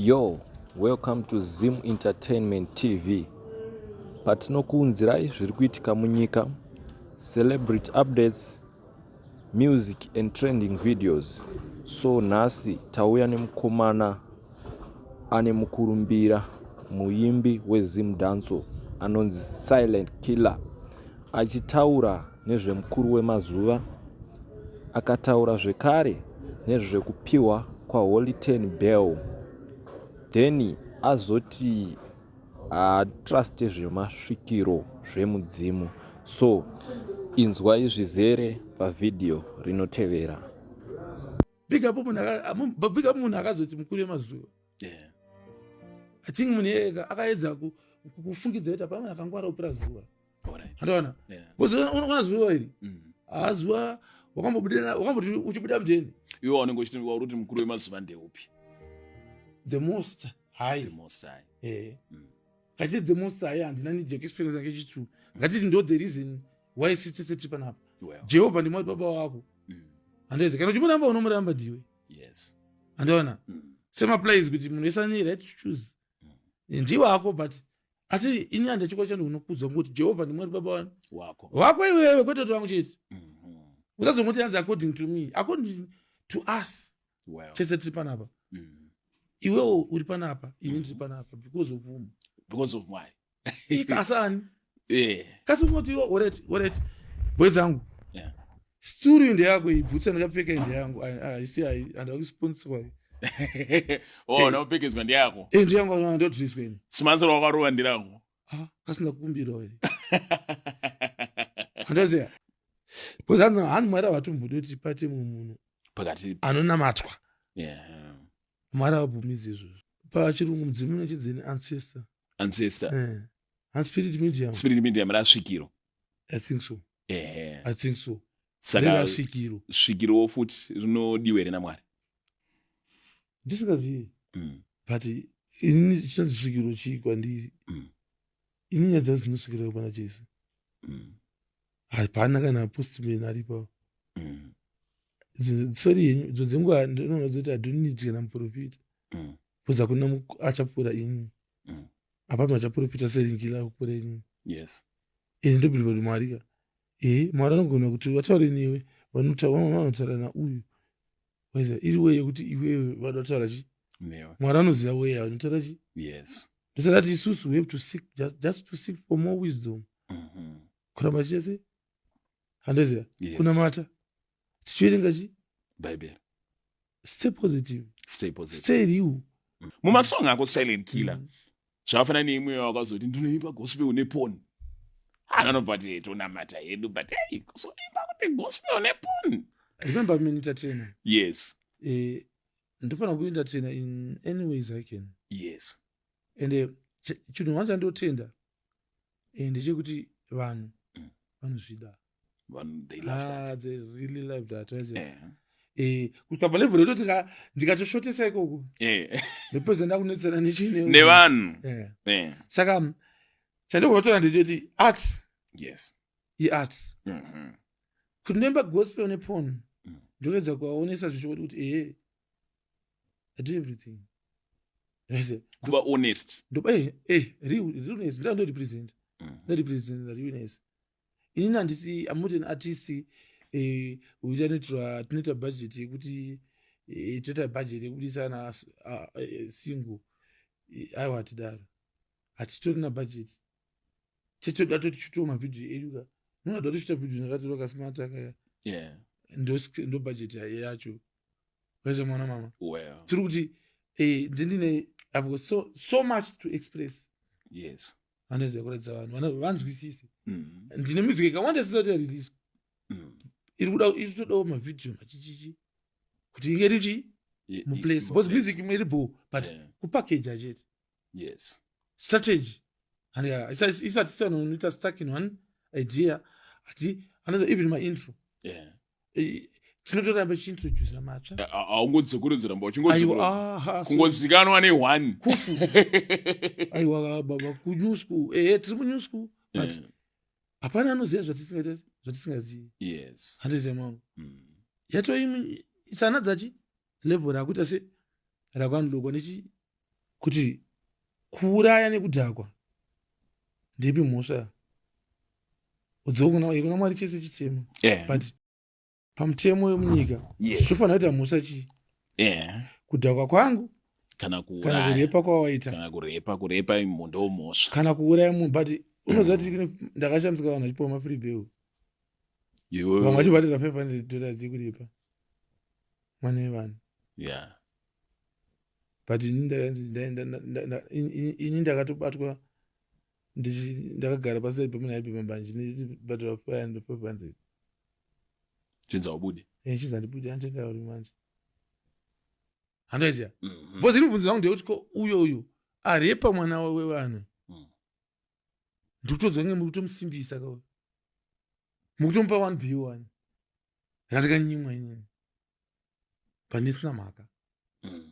Yo, welcome to Zim Entertainment TV. Patinokuunzirai zviri kuitika munyika, celebrity updates, music and trending videos. So nhasi tauya nemukomana ane mukurumbira muimbi weZim Danso anonzi Silent Killer achitaura nezvemukuru wemazuva akataura zvekare nezvekupiwa kwaHoly Ten Bell then azoti haatruste zvemasvikiro zvemudzimu so inzwai zvizere pavhidhiyo rinotevera big up munhu akazoti mukuru wemazuva i think munhu iyeka akaedza kufungidza kuti hapana akangwara kupira zuva andaona bcause unoona zuva iri mm. haazuva wakambobuda wakamboti uchibuda mjeni iwe wanenge uchiti wauri kuti mukuru wemazuva ndeupi the most high the most high eh mm. kachiti the most high handina need your experience yake chitu ngatiti ndo the reason why sitete tiri panapa jehovha ndimwari baba wako mm. handaizi kana uchimuramba unomuramba ndiwe yes andaona mm. same applies kuti munhu wese ane right to choose mm. ndiwe ako but asi ini handa chikwa chano unokudza ngokuti jehovha ndimwari baba wani wako wako iwewe kwete kuti vangu chete mhm. usazongoti yanzi according to me according to us well. chese tiri panapa mm. iwewo uri panapa ini ndiri mhm. panapa because of whom because of mwari ikasani yeah. kasi unoti oret oret bwedzangu yeah. sturu inde yako iyi bhutsi andakapfeka inde yangu haisi handava kusponsorwa iyi oh, naupfekedzwa ndeyako eh, inde yangu andotiriswa ini simansoro wakarova ndirangu ah, kasina kukumbirawo here andoziva bcause ano hanu mwari avatombodi kuti pate mumwe munhu pakati anonamatwa mwari avabvumidzi izvozvo pachirungu mudzimu unochidzini ancestor ancestor eh. hanspirit medium spirit medium rasvikiro i think so ehe i think so saka reva svikiro svikirowo futi rinodiwa here namwari ndisingazivi Mm, but ini chichanzi svikiro chii kwandiri Mm. ini nyaya dzangu dzinosvikirawo pana jesu mm, hapana kana postman aripo mm, Idzo- sorry henyu idzo dzenguva ndinoona dzoti adonit kana muprofita mm. kuza kuna achapura ini mm. apati machapuripita seringila kupura ini yes ini ndobirwa kuti mwari ka e mwari anogona kuti vataure newe vanotaura nauyu waiza iri weye kuti iwewe vada kutaura chi mwari anoziva weye anotaura chi yes ndosaka ti isusu we have to seek just, just to seek for more wisdom mm -hmm. kuramba chese handeziva yes. kunamata tichiverenga chi bhaibheri stay positive stay positive stay real mm. mumasong ako silent killer mm. zvafana neimwe wakazoti ndinoimba gospel une pon anonobva ah, ti tonamata hedu but hey kuzoimba kuti gospel une pon remember me entertainer yes eh, ndofanira kuentertainer in any ways i can yes and uh, chinhu hwana chandotenda eh, ndechekuti vanhu mm. vanozvida ah, eh, kusvika palevel yototi ndikatoshotesa ikoko ndopedza ndakunetsana nechinevanhu saka chandikuotora ndechoti art iart mm-hmm. kuti noimba gospel nepon mm. ndokuedza kuvaonesa zvichikoti kuti ee i do everything kuva honest realness ndira ndorepresent mm. ndorepresent realness inini handisi i'm not an artist eh, uita netoa tinoita budget yekuti eh, toita budget yekudisa na ah, eh, single aiwa hatidaro hatitori na budget chetoda toti chitoa mavhidhio edu ka noda toda tochita vhidhio ndakatora kasimata kaya ndo budget yacho wese mwana mama well. tiri kuti eh, ndindine i've got so, so much to express yes vanoziva kuratidza vanhu vana- vanzwisise mm. ndine music ikawanda isisati yareleaswa Mm. iri kuda iri kutodawo mavhidhiyo machichichi kuti inge richi Ye- i- muplace because muplace. music imwe iri bho but Yeah. kupakeja chete yes strategy and yeah, it's, it's, it's, it's, it's, it's stuck in one idea ati another even my intro yeah eh, tinotoramba chiintrodusa matsva eh, aungonzi sekurinzi ramba uchingozikanwa neone kufu aiwa baba kunew school ehe eh, tiri munew school but yeah hapana anoziva zvatisingazivi yes handiziva mangu mm. yatoimi isana dzachi level rakuita se ravanhu lokwa nechi kuti kuuraya nekudhakwa ndepi mhosva udzokuna kuna mwari chese chitema yeah. but pamutemo wemunyika zvofanira yes. kuita mhosva chii yeah. kudhakwa kwangu kana kurepa kwawaita kana kurepa kurepa munhu ndomhosva kana kuuraya munhu but unoziva kuti mm. ndakashamisika vanhu vachipiwa mafree bill vamwe vachibatira 500 dollars yekuripa mwana wevanhu yeah but ini ndakanzi ini ndakatobatwa ndakagara paside pemuna aipe mambanje ndibhadhara five hundred five hundred chinza ubude eh, chinza ndibude anditenga uri manje handoiziva mhm. bcause ini bvunzi vangu ndeyekuti ko uyo uyu arepa mwana wevanhu mm. ndikutodzwa nge mukutomusimbisa kauyo mukutomupa one b one ndandikanyimwa inini pandisina mhaka mm.